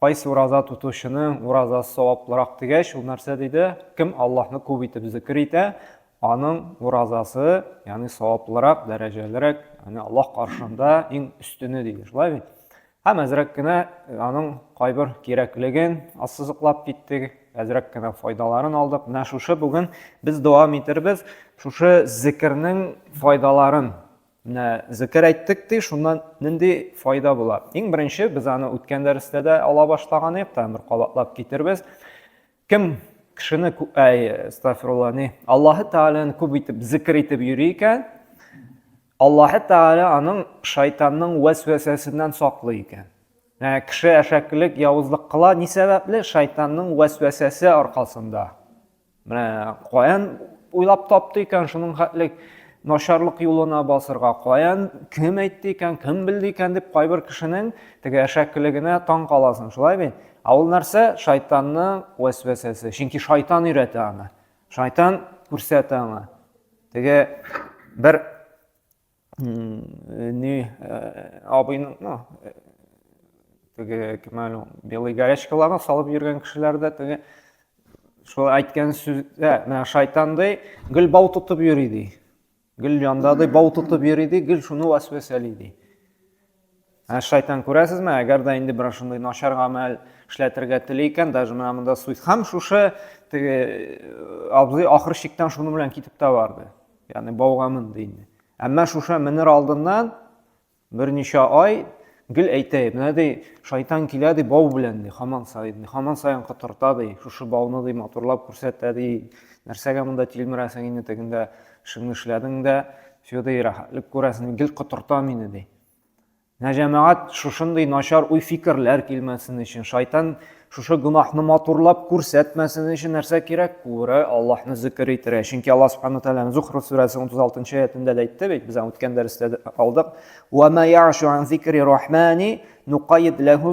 Кайсы ураза тотучының уразасы саваплырак дигәч, ул нәрсә диде? Кем Аллаһны күп итеп зикер итә, аның уразасы, ягъни саваплырак, дәрәҗәлерәк, ягъни Аллаһ каршында иң өстене диде. Шулай бит? Һәм әзрәк кенә э, аның кайбер кирәклеген ассызыклап киттек, әзрәк кенә файдаларын алдык. Менә шушы бүген без дәвам итербез шушы зикернең файдаларын Менә зекер әйттек ди, шуннан нинди файда була? Иң беренче, без аны үткән дәрестә дә ала башлаган идек, тагын бер кабатлап китербез. Кем кешене, әй, астагфирулла, ни, Аллаһы Тәгаләне күп итеп зикр итеп йөри икән, Аллаһы Тәгалә аның шайтанның вәсвәсәсеннән саклый икән. Ә кеше әшәкелек, явызлык кыла ни сәбәпле? Шайтанның вәсвәсәсе аркасында. Менә каян уйлап тапты икән шуның хәтлек начарлык юлына басырга каян кем әйтте икән кем белде икән дип кайбер кешенең теге әшәкелегенә таң каласың шулай бит ә ул нәрсә шайтанның вәсвәсәсе чөнки шайтан өйрәтә аны шайтан күрсәтә аңа теге бер Ни абыйның, ну, теге кем әле белый горячкаларны салып йөргән кешеләр дә теге шул әйткән сүздә менә шайтандай гел бау тотып йөри ди гел яндадай бау тотып йөри ди гел шуны вәсвәсәли ди Ә шайтан, күрәсезме, әгәр дә инде берәр шундый начар гамәл эшләтергә тели икән, даже менә монда суйт. Һәм шушы теге абзый ахыр чиктән шуны белән китеп тә барды. Ягъни бауга менде инде. Әмма шуша менер алдыннан берничә ай гел әйтә, менә ди, шайтан килә ди бау белән ди, хаман саен ди, хаман саен котырта ди, шушы бауны ди матурлап күрсәтә ди, нәрсәгә монда тилмерәсең инде тегендә Шуны эшләдең дә, Федый, рәхәтлек күрәсең, гел котырта мине, ди. Менә җәмәгать шушындый начар уй-фикерләр килмәсен өчен, шайтан шушы гөнаһны матурлап күрсәтмәсен өчен нәрсә кирәк? Күрә, Аллаһны зикер итәргә. Чөнки Аллаһ Субхану Тәгаләнең Зухруф сүрәсе 36 нчы аятендә дә әйтте бит, без аны үткән дәрестә алдык. Ва ма яшу ан зикри рахмани нукайид ләһу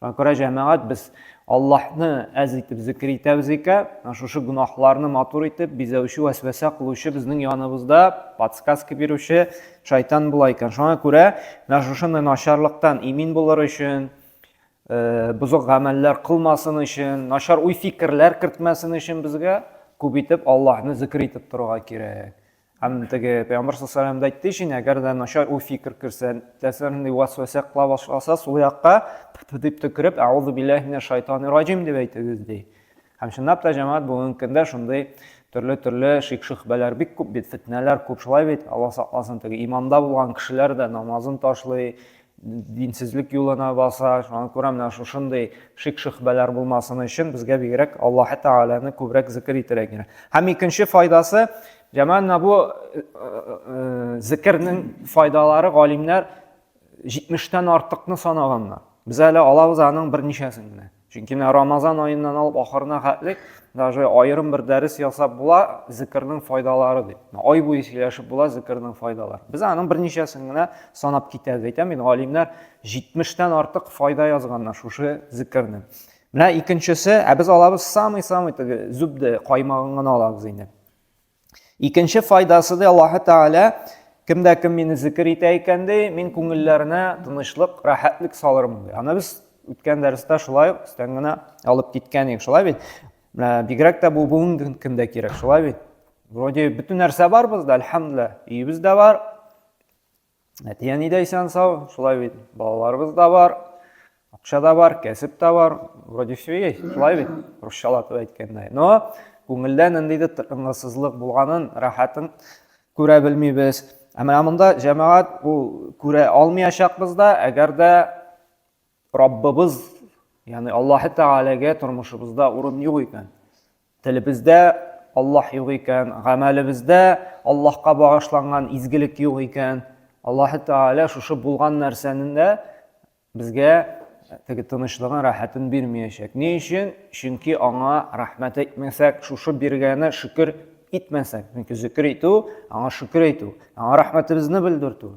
Кара җәмәгать, без Аллаһны әз итеп зикер итәбез икән, шушы гөнаһларны матур итеп бизәүче, вәсвәсә кылучы безнең яныбызда подсказка бирүче шайтан була икән. Шуңа күрә менә шушындай начарлыктан имин булыр өчен, э, бозык гамәлләр кылмасын өчен, начар уй-фикерләр кертмәсен өчен безгә күп итеп Аллаһны зикер итеп торырга кирәк. Һәм теге пәйгамбәр саллаллаху да әйтте өчен, әгәр дә начар уй фикер керсә, нәрсә нинди васвәсә кыла башласа, сул якка дип төкереп, әгъузу биллаһи минәш шайтанир раҗим дип әйтегез ди. Һәм чынлап та җәмәгать бүгенге көндә шундый төрле-төрле шик-шөһбәләр бик күп бит, фетнәләр күп шулай бит. Алла сакласын, теге иманда булган кешеләр дә намазын ташлый, динсезлек юлына баса, шуңа күрә менә шушындый шик-шөхбәләр булмасын өчен безгә бигрәк Аллаһ Тәгаләне күбрәк зикер итәргә кирәк. Һәм икенче файдасы, җәмәгатьне бу э, э, э, зикернең файдалары галимнәр 70-тән артыкны санаганнар. Без әле алабыз аның берничәсен генә. Чөнки менә Рамазан аеннан алып ахырына хәтлек даже аерым бер дәрес ясап була зикрның файдалары дип. Ай буе сөйләшеп була зикрның файдалары. Без аның берничәсен генә санап китәбез. Әйтәм бит, галимнәр 70-тән артык файда язганнар шушы зикрнең. Менә икенчесе, ә без алабыз самый-самый теге зубды каймагын гына алабыз инде. Икенче файдасы да Аллаһы Тәгалә кемдә кем мине зикр итә икән ди, мин күңелләренә тынычлык, рәхәтлек салырмын ди. Аны без үткән дәрестә шулай ук өстән генә алып киткән идек. Шулай бит? Бигрәк тә бу бүгенге көндә кирәк, шулай бит? Вроде бөтен нәрсә бар бездә, әлхәмдүлилләһ. Өебез дә бар, Әтияни дә исән сау, шулай бит, балаларыбыз да бар, акча да бар, кәсеп тә бар, вроде все есть, шулай бит, русчалатып әйткәндә. Но күңелдә ниндидер тынгысызлык булганын, рәхәтен күрә белмибез. Ә менә монда җәмәгать ул күрә алмаячакбыз да, әгәр дә Раббыбыз, ягъни Аллаһы Тәгаләгә тормышыбызда урын юк икән. Телебездә Аллаһ юк икән, гамәлебездә Аллаһка багышланган изгелек юк икән. Аллаһы Тәгалә шушы булган нәрсәнең дә безгә теге тынычлыгын, рәхәтен бирмәячәк. Ни өчен? Чөнки аңа рәхмәт әйтмәсәк, шушы биргәне шөкер итмәсәк, чөнки зөкер итү, аңа шөкер итү, аңа рәхмәтебезне белдертү.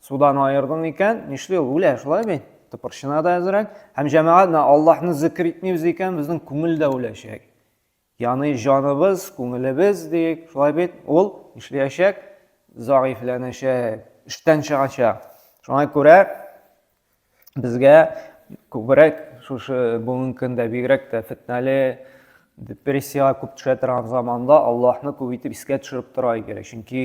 Судан аердың икән, нишли ул? Үлә, шулай бит? Тыпырчына да әзрәк. Һәм җәмәгать менә Аллаһны зикр итмибез икән, безнең күңел дә үләчәк. Яны җаныбыз, күңелебез диек, шулай бит? Ул нишләячәк? Заифләнәчәк, эштән чыгачак. Шуңа күрә безгә күбрәк шушы бүгенге көндә бигрәк тә фетнәле депрессиягә күп төшә торган заманда Аллаһны күп итеп искә төшереп тора кирәк. Чөнки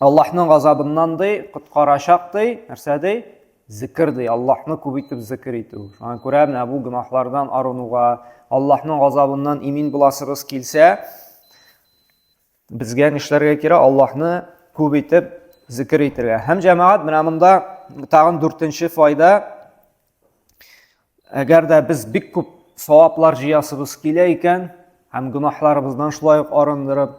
Аллаһның газабыннан ди, коткарачак ди, нәрсә ди? Зикр ди, Аллаһны күп итеп зикр итү. Шуңа күрә менә бу гөнаһлардан арынуга, Аллаһның газабыннан имин буласыбыз килсә, безгә нишләргә кирәк? Аллаһны күп итеп зикр итергә. Һәм җәмәгать менә монда тагын дүртенче файда. Әгәр дә без бик күп саваплар җыясыбыз килә икән, һәм гөнаһларыбыздан шулай ук арындырып,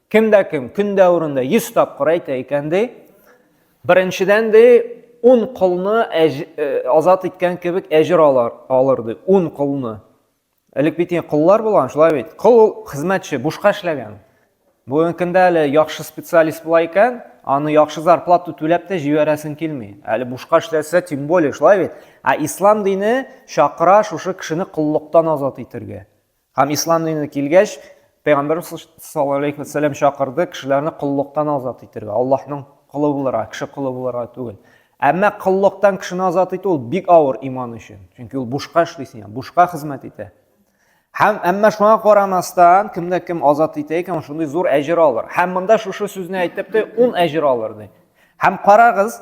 Кем дә кем көн дәверендә 100 тапкыр әйтә икән ди, беренчедән ди, 10 колны э, азат иткән кебек әҗер алар, алыр ди, 10 колны. Элек бит инде коллар булган, шулай бит. Кол ул хезмәтче, бушка эшләгән. Бүгенге көндә әле яхшы специалист була икән, аны яхшы зарплату түләп тә җибәрәсең килми. Әле бушка эшләсә, тем более, шулай бит. Ә ислам дине чакыра шушы кешене коллыктан азат итергә. Һәм ислам диненә килгәч, Пәйгамбәр саллаллаһу алейхи ва сәлләм чакырды кешеләрне коллыктан азат итәргә, Аллаһның колы булырга, кеше колы булырга түгел. Әмма коллыктан кешене азат итү ул бик авыр иман өчен. Чөнки ул бушка эшлисең, яңа бушка хезмәт итә. Һәм әмма шуңа карамастан, кемдә кем азат итә икән, шундый зур әҗер алыр. Һәм монда шушы сүзне әйтеп тә, ун әҗер алыр ди. Һәм карагыз,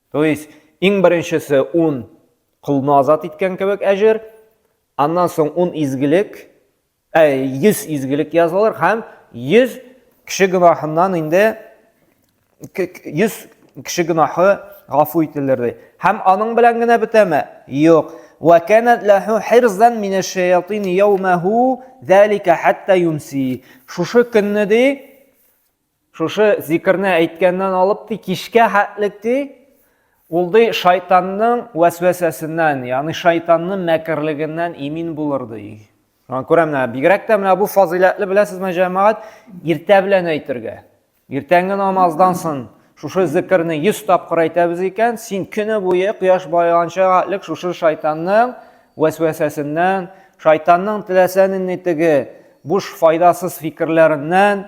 То есть, иң беренчесе ун колны азат иткән кебек әҗер, аннан соң ун изгелек, ә, йөз изгелек язылыр һәм йөз кеше гөнаһыннан инде йөз кеше гөнаһы гафу ителер ди. Һәм аның белән генә бетәме? Юк. Ва канат лаху хирзан мин аш-шаятин яумаху залика хатта юмси. Шушы көнне ди Шушы зикерне әйткәннән алып ди, кичкә хәтлек ди, ул ди шайтанның вәсвәсәсеннән, ягъни шайтанның мәкерлегеннән имин булыр ди. Шуңа күрә менә бигрәк тә менә бу фазыйләтле беләсезме, җәмәгать, иртә белән әйтергә. Иртәнге намаздан соң шушы зикерне 100 тапкыр әйтәбез икән, син көне буе кояш баеганча хәтлек шушы шайтанның вәсвәсәсеннән, шайтанның теләсә нинди теге буш файдасыз фикерләреннән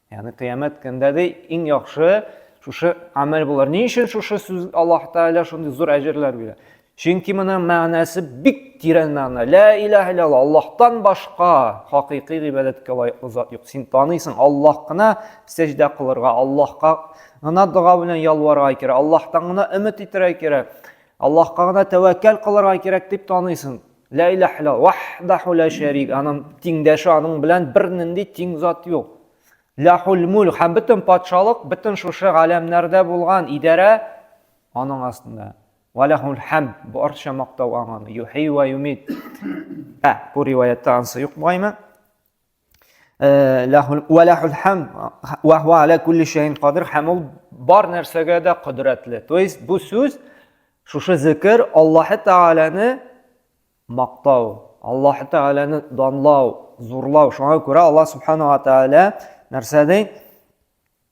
Ягъни кыямәт көндә дә иң яхшы шушы амәл булыр. Ни өчен шушы сүз Аллаһ Тәгалә шундый зур әҗерләр бирә? Чөнки моның мәгънәсе бик тирән мәгънә. Ла илаһ иллалла, Аллаһтан башка хакыйкый гыйбадәткә лаеклы зат юк. Син таныйсың, Аллаһ кына сәҗдә кылырга, Аллаһка гына дога белән ялварга кирәк, Аллаһтан гына өмет итәргә кирәк, Аллаһка гына тәвәккәл кылырга кирәк дип таныйсың. Лә иләһ илля ваһдаху ла шәрик. Аның тиңдәше аның белән бернинди тиң зат юк. Ләхул мул һәм бөтен патшалык, бөтен шушы галәмнәрдә булган идарә аның астында. Ва ләхул хәм барча мактау аңа. Юхи ва юмит. Ә, бу риваятта ансы юк бугаймы? Э, һәм ул бар нәрсәгә дә кодрәтле то есть бу сүз шушы зекер аллаһы тәгаләне мактау аллаһы тәгаләне данлау зурлау шуңа күрә алла субханала тәгалә нәрсә ди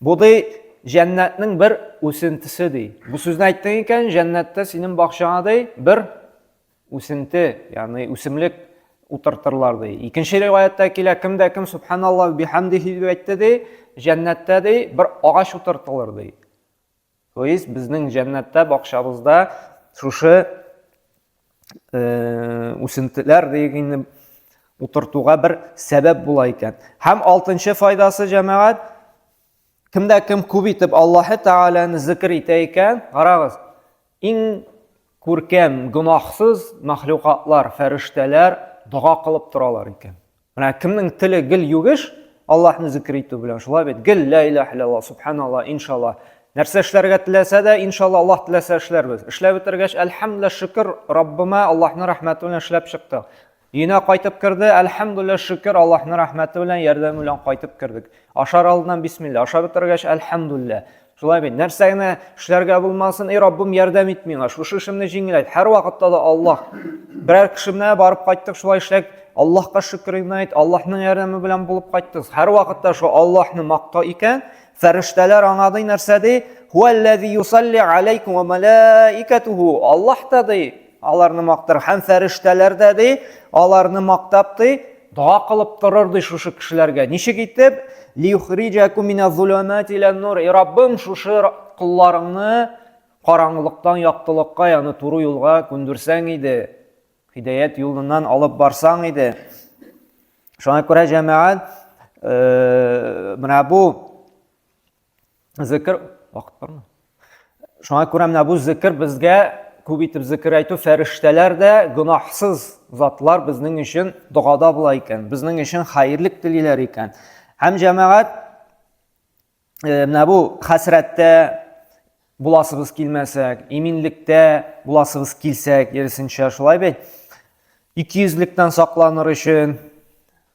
Бу ди җәннәтнең бер үсентесе ди. Бу сүзне әйттең икән, җәннәттә синең бакчаңа ди бер үсенте, ягъни үсемлек утыртырлар ди. Икенче риваяттә килә, кем дә кем субханаллаһ бихамдихи дип әйтте ди, җәннәттә ди бер агач утыртылыр ди. То есть безнең җәннәттә бакчабызда шушы э, үсентеләр дигәнне утыртуга бер сәбәп була икән. Һәм алтынчы файдасы җәмәгать кемдә кем күп итеп Аллаһы Тәгаләне зикр итә икән, карагыз, иң күркәм гөнаһсыз мәхлукатлар, фәрештәләр дога кылып торалар икән. Менә кемнең теле гел югеш, Аллаһны зикер итү белән, шулай бит, гел лә илаһ иллаллаһ, субханаллаһ, иншаллаһ. Нәрсә эшләргә теләсә дә, иншаллаһ, Аллаһ теләсә эшләрбез. Эшләп бетергәч, әлхәмдүлиллаһ, шөкер, Раббыма Аллаһның рәхмәте белән эшләп чыктык. Өенә кайтып керде, әлхәмдүлиллаһ, шөкер, Аллаһның рәхмәте белән, ярдәме белән кайтып кердек. Ашар алдыннан бисмилла, ашап бетергәч, әлхәмдүлиллаһ. Шулай бит, нәрсә генә эшләргә булмасын, эй Раббым, ярдәм ит миңа, шушы эшемне җиңеләйт. Һәрвакытта да Аллаһ, берәр кешемне барып кайттык, шулай эшләк, Аллаһка шөкер генә әйт, Аллаһның ярдәме белән булып кайттыгыз. Һәрвакытта шул Аллаһны макта икән, фәрештәләр аңа ди нәрсә ди? Хуаллази юсалли алейкум ва малаикатуху. Аллаһ та ди, Аларны мактар. Һәм фәрештәләр дә, ди, аларны мактап, ди, дога кылып торыр, ди, шушы кешеләргә. Ничек итеп? Лиюхриҗәкум миназзулумати илән-нур. И Раббым, шушы колларыңны караңгылыктан яктылыкка, ягъни туры юлга күндерсәң иде, хидәят юлыннан алып барсаң иде. Шуңа күрә, җәмәгать, менә бу Зекер, вакыт бармы? Шуңа күрә менә бу зекер безгә күп итеп зекер әйтү фәрештәләр дә гөнаһсыз затлар безнең өчен догада була икән, безнең өчен хәерлек телиләр икән. Һәм җәмәгать э, менә бу хәсрәттә буласыбыз килмәсәк, иминлектә буласыбыз килсәк, ерсенчә шулай бит. Икейөзлектән сакланыр өчен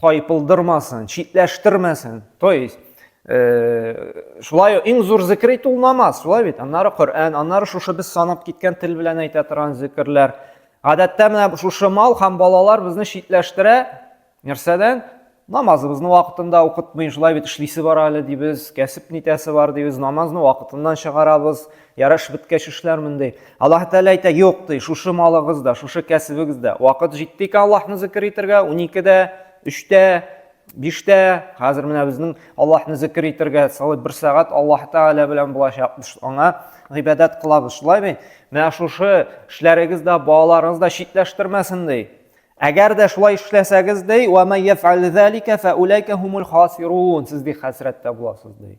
тайпылдырмасын, читләштермәсен. То есть, э, шулай иң зур зикер итү ул намаз, шулай бит. Аннары Коръән, аннары шушы без санап киткән тел белән әйтә торган зикерләр. Гадәттә менә шушы мал һәм балалар безне читләштерә нәрсәдән? Намазыбызны вакытында укытмый, шулай бит эшлисе бар әле дибез, кәсеп нитәсе бар дибез, намазны вакытыннан чыгарабыз. Ярыш беткәч эшләрмен ди. Аллаһ Тәгалә әйтә, юк ди, шушы малыгыз да, шушы кәсебегез дә. Вакыт җитте икән Аллаһны зикер итәргә, уникедә, өчтә, биштә, хәзер менә безнең Аллаһны зикер итәргә салып бер сәгать Аллаһ Тәгалә белән булачакбыз, аңа гыйбадәт кылабыз, шулай бит? Менә шушы эшләрегез дә, балаларыгыз да читләштермәсен ди. Әгәр дә шулай эшләсәгез ди, ва май яфәл залика фә улайка хумул хасирун, сез ди хәсрәттә буласыз ди.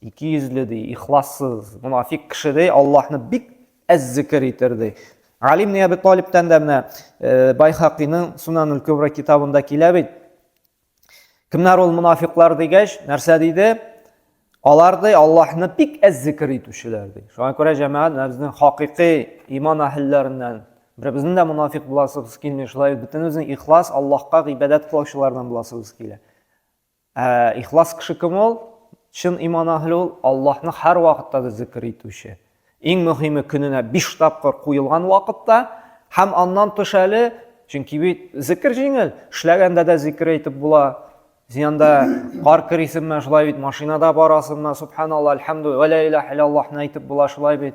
Ике йөзле ди, ихлассыз, мунафик кеше ди, Аллаһны бик әз зикер итер ди. Али ибн Әби Талибтан да менә э, Байхакиның Сунанул Кубра китабында килә бит. Кемнәр ул мунафиклар дигәч, нәрсә диде? Алар ди Аллаһны бик әз зикер итүчеләр ди. Шуңа күрә җәмәгать безнең хакыйкый иман әһелләреннән Беребезнең дә мунафик буласыбыз килми, шулай бөтенебезнең ихлас Аллаһка гыйбадәт кылучылардан буласыбыз килә. Ә ихлас кеше кем ул? Чын иман әһле ул, Аллаһны һәрвакытта да зикер итүче. Иң мөһиме көненә биш тапкыр куелган вакытта һәм аннан тыш әле, чөнки бит зикер җиңел, эшләгәндә дә зикер әйтеп була. Син анда кар керисеңме, шулай бит машинада барасыңмы, субханалла, әлхәмдү, вә лә илаһ илаллаһны әйтеп була, шулай бит.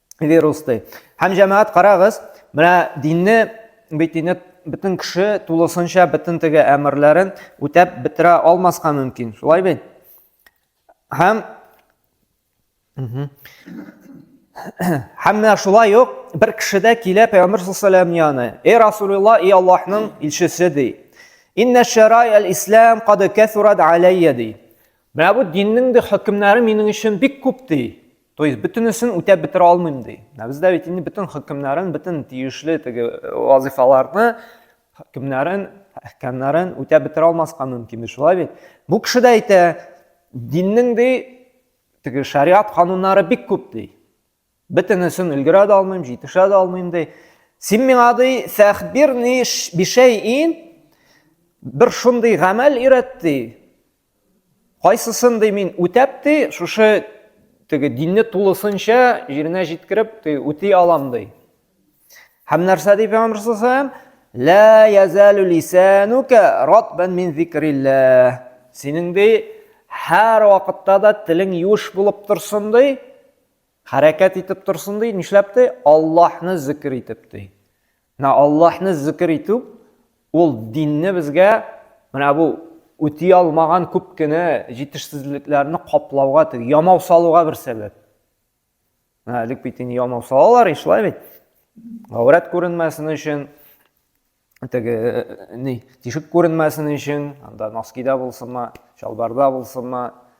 вирус ди. Һәм җәмәгать карагыз, менә динне бит инде бөтен кеше тулысынча бөтен теге әмерләрен үтәп бетерә алмаска мөмкин. Шулай бит? Һәм Һәм менә шулай ук бер кеше дә килә Пәйгамбер саллаллаһу алейһи ва яны. Эй Расулулла, эй Аллаһның илчесе ди. Инна шарай аль-ислам кад кәсурат алейя ди. Менә бу диннең дә хөкемнәре минең өчен бик күп ди. То есть бөтенесен үтәп бетерә алмыйм ди. Ә бездә бит инде бөтен хөкемнәрен, бөтен тиешле теге э, вазифаларны, хөкемнәрен, әхкәмнәрен үтәп бетерә алмаска мөмкин бит, шулай бит. Бу кеше дә әйтә, диннең ди теге шариат кануннары бик күп ди. Бөтенесен өлгерә дә алмыйм, җитешә дә алмыйм ди. Син миңа ди, фәхбирни бишәйин бер шундый гамәл өйрәт ди. Кайсысын ди мин үтәп ди, шушы теге динне тулысынча җиренә җиткереп ди, үти алам ди. Һәм нәрсә ди Пәйгамбәр саллаллаху Ла язалу лисанука ратбан мин зикрилләх. Синең ди һәр вакытта да телең юш булып торсын ди, хәрәкәт итеп торсын ди, нишләп ди? Аллаһны зикр итеп ди. Менә Аллаһны зикер итү, ул динне безгә менә бу үти алмаган күп кенә җитешсезлекләрне каплауга, теге ямау салуга бер сәбәп. Менә элек бит инде ямау салалар, шулай бит. Гаврат күренмәсен өчен, теге ни, тишек күренмәсен өчен, анда носкида булсынмы, чалбарда булсынмы,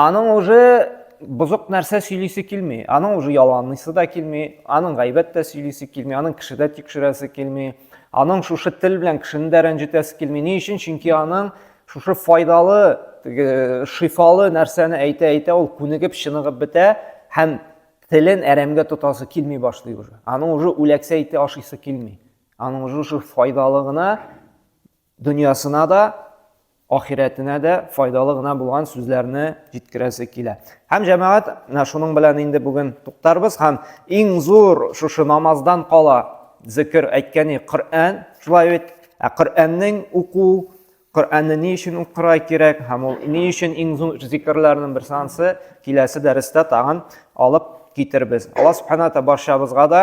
Аның уже бозык нәрсә сөйлисе килми. Аның уже яланлыйсы да килми, аның гайбәт тә сөйлисе килми, аның кеше дә тикшерәсе килми, аның шушы тел белән кешене дә рәнҗетәсе килми. Ни өчен? Чөнки аның шушы файдалы, шифалы нәрсәне әйтә-әйтә ул күнегеп, чыныгып бетә һәм телен әрәмгә тотасы килми башлый уже. Аның уже үләксә ите ашыйсы килми. Аның уже шушы файдалы гына дөньясына да, ахирәтенә дә файдалы гына булган сүзләрне җиткерәсе килә. Һәм җәмәгать, менә шуның белән инде бүген туктарбыз һәм иң зур шушы намаздан кала зикер әйткәне Коръән, шулай бит. Ә Коръәннең уку, Коръәнне ни өчен укырга кирәк һәм ул ни өчен иң зур зикерләрнең бер сансы киләсе дәрестә тагын алып китербез. Алла субханата барчабызга да